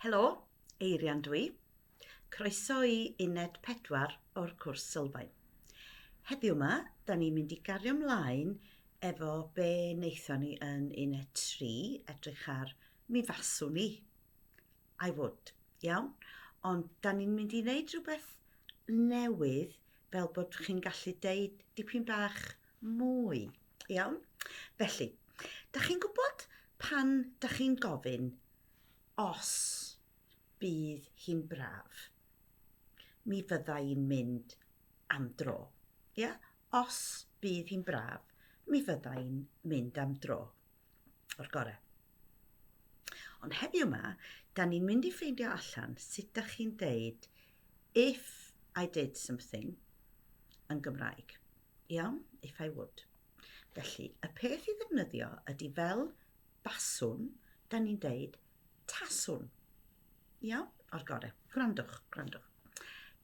Helo, Eirian dwi. Croeso i uned 4 o'r cwrs sylfaen. Heddiw yma, da ni'n mynd i gario mlaen efo be wnaethon ni yn uned 3, edrych ar mi faswn i. I would, iawn? Ond da ni'n mynd i wneud rhywbeth newydd fel bod chi'n gallu deud dipyn bach mwy. Iawn? Felly, da chi'n gwybod pan da chi'n gofyn os bydd hi'n braf, mi fydda i'n mynd am dro. Ia? Os bydd hi'n braf, mi fydda i'n mynd am dro. O'r gorau. Ond heddiw yma, da ni'n mynd i ffeindio allan sut da chi'n deud if I did something yn Gymraeg. Iawn, if I would. Felly, y peth i ddefnyddio ydy fel baswn, da ni'n deud taswn. Iawn, o'r gorau. Gwrandwch, gwrandwch.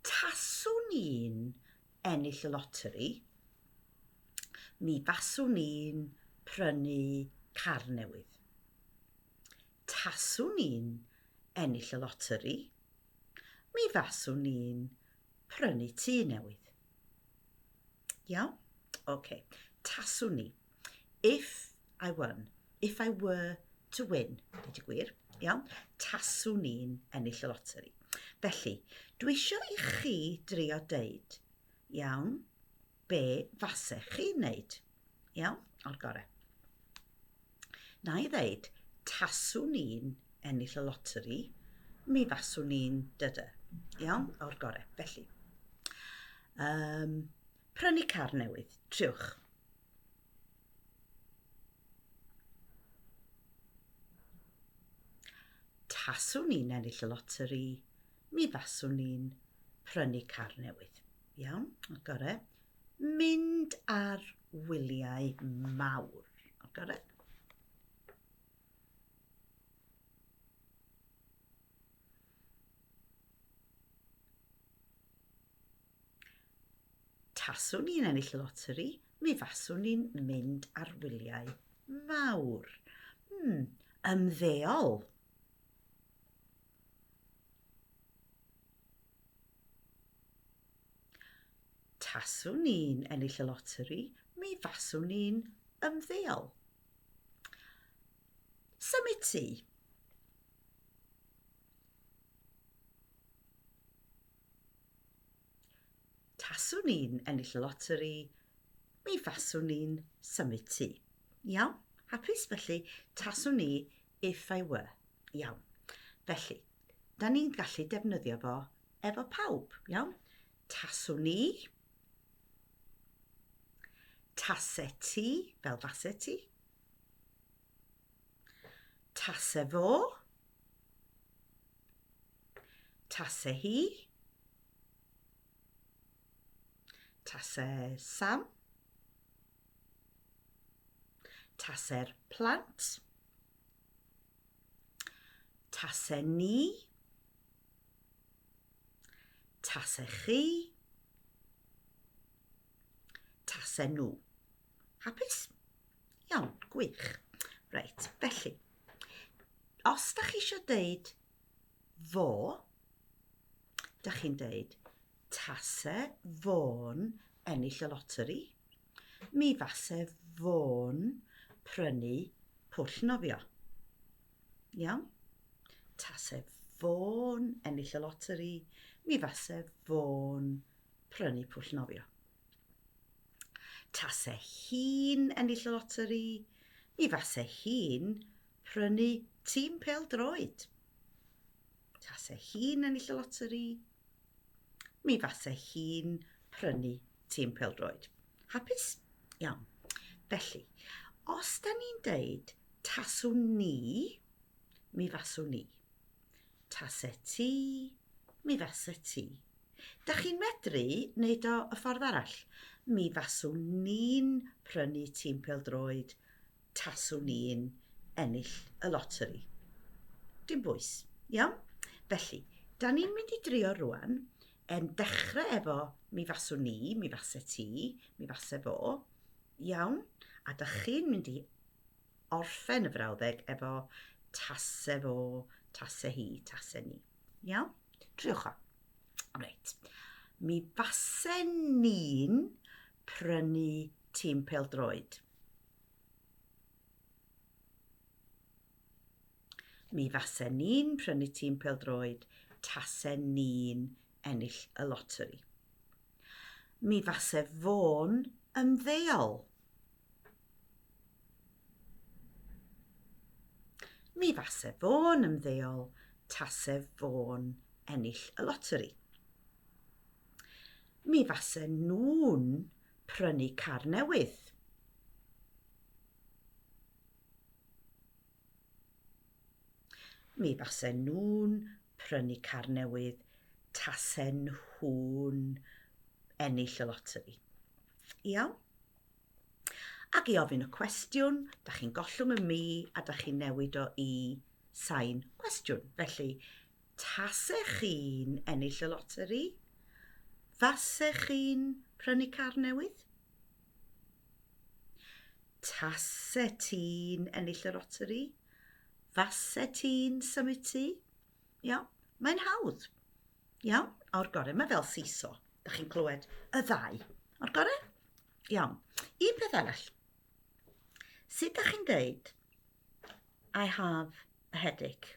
Taswn i'n ennill y loteri, mi faswn i'n prynu car newydd. Taswn i'n ennill y loteri, mi faswn ni'n prynu tŷ newydd. Iawn? Okay. Taswn ni. If I won. If I were to win. Dweud y gwir. Iawn? Taswn ni'n ennill y loteri. Felly, dwi eisiau i chi drio deud, iawn, be fasech chi wneud. Iawn? O'r gorau. Na i ddeud, taswn ni'n ennill y loteri, mi faswn ni'n dydy. Iawn? O'r gorau. Felly, um, prynu car newydd, triwch. Taswn ni'n ennill y loteri, mi faswn ni'n prynu car newydd. Iawn, o'r gore. Mynd ar wyliau mawr. O'r gore. Taswn ni'n ennill y loteri, mi faswn ni'n mynd ar wyliau mawr. Hmm, ymddeol. Taswn ni'n ennill y loteri, mi faswn ni'n ymddeol. Symud ti. Taswn ni'n ennill y loteri, mi faswn ni'n symud ti. Iawn? Hapus? Felly, taswn ni if I were. Iawn. Felly, da ni'n gallu defnyddio fo efo pawb, iawn? Taswn i, tase ti, fel fase ti, tase fo, tase hi, tase Sam, tase'r plant, Tase ni. Tase chi. Tase nhw. Hapus? Iawn, gwych. Reit, felly, os da chi eisiau deud fo, da chi'n deud tase fo'n ennill y loteri, Mi fase fo'n prynu pwll nofio. Iawn? Tase fo'n ennill y loteri, mi fase fo'n prynu pwll nofio. Tase hi'n ennill y loteri, mi fase hi'n prynu tîm pel droed. Tase hi'n ennill y loteri, mi fase hi'n prynu tîm peldroed. Hapus? Iawn. Felly, os da ni'n deud taswn ni, mi faswn ni. Tase ti, mi fase ti. Da chi'n medru wneud o y ffordd arall. Mi faswn ni'n prynu tîm peldroed taswn i'n ennill y loteri. Dim bwys, iawn? Felly, da ni'n mynd i drio rwan, yn dechrau efo mi faswn ni, mi fase ti, mi fase fo, iawn? A da chi'n mynd i orffen y frawddeg efo tase fo, tase hi, tase ni, iawn? Triwch o. Reit. Mi fase ni'n prynu tîm peldroed. Mi fasen ni'n prynu tîm peldroed tasen ni'n ennill y loteri. Mi fase fo'n ymddeol. Mi fase fo'n ymddeol tase fo'n ennill y loteri. Mi fase nhw'n prynu car newydd. Mi fasen nhw'n prynu car newydd tasen nhw'n ennill y loteri. Iawn? Ac i ofyn y cwestiwn, da chi'n gollwng y mi a da chi'n newid o i sain cwestiwn. Felly, Tasech chi'n ennill y loteri, fasech chi'n prynu car newydd? Taset ti'n ennill y loteri, faset ti'n symud tŷ? Iawn, mae'n hawdd. Iawn, o'r gorau, mae fel siso. Da chi'n clywed y ddau. O'r gorau? Iawn. Un peth arall. Sut da chi'n dweud, I have a headache?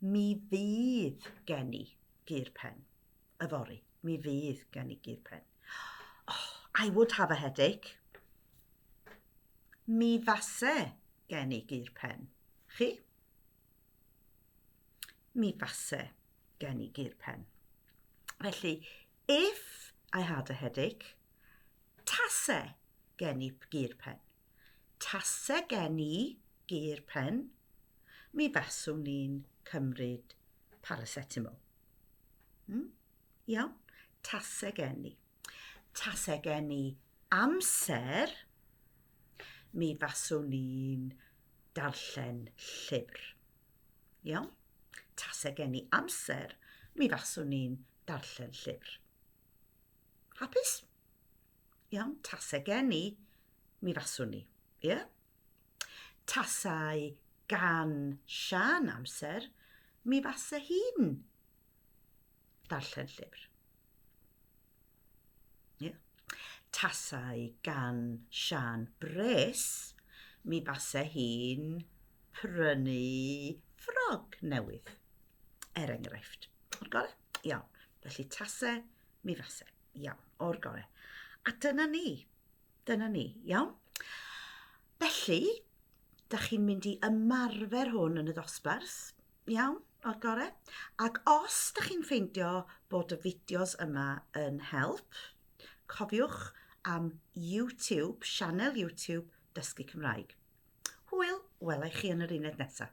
Mi fydd gen i gur pen. Yfory, mi fydd gen i gur pen. Oh, I would have a headache. Mi fase gen i gur pen. Chi? Mi fase gen i gur pen. Felly, if I had a headache, tase gen i gur pen. Tase gen i gur pen, mi faswn i'n cymryd paracetamol. Hmm? Iawn? Tase gen i. Tase gen i amser, mi faswn i'n darllen llyfr. Iawn? Tase gen i amser, mi faswn i'n darllen llyfr. Hapus? Iawn, tase gen i, mi faswn i. Ie? Yeah? Tasau gan Sian amser, mi fase hi'n darllen llyfr. Yeah. Tasau gan Sian bres, mi fase hi'n prynu ffrog newydd, er enghraifft. O'r gorau? Iawn. Felly tasau Mi fase. Iawn, o'r gore. A dyna ni. Dyna ni, iawn? Felly, da chi'n mynd i ymarfer hwn yn y ddosbarth, iawn, o'r gore. Ac os da chi'n ffeindio bod y fideos yma yn help, cofiwch am YouTube, sianel YouTube Dysgu Cymraeg. Hwyl, welai chi yn yr uned nesaf.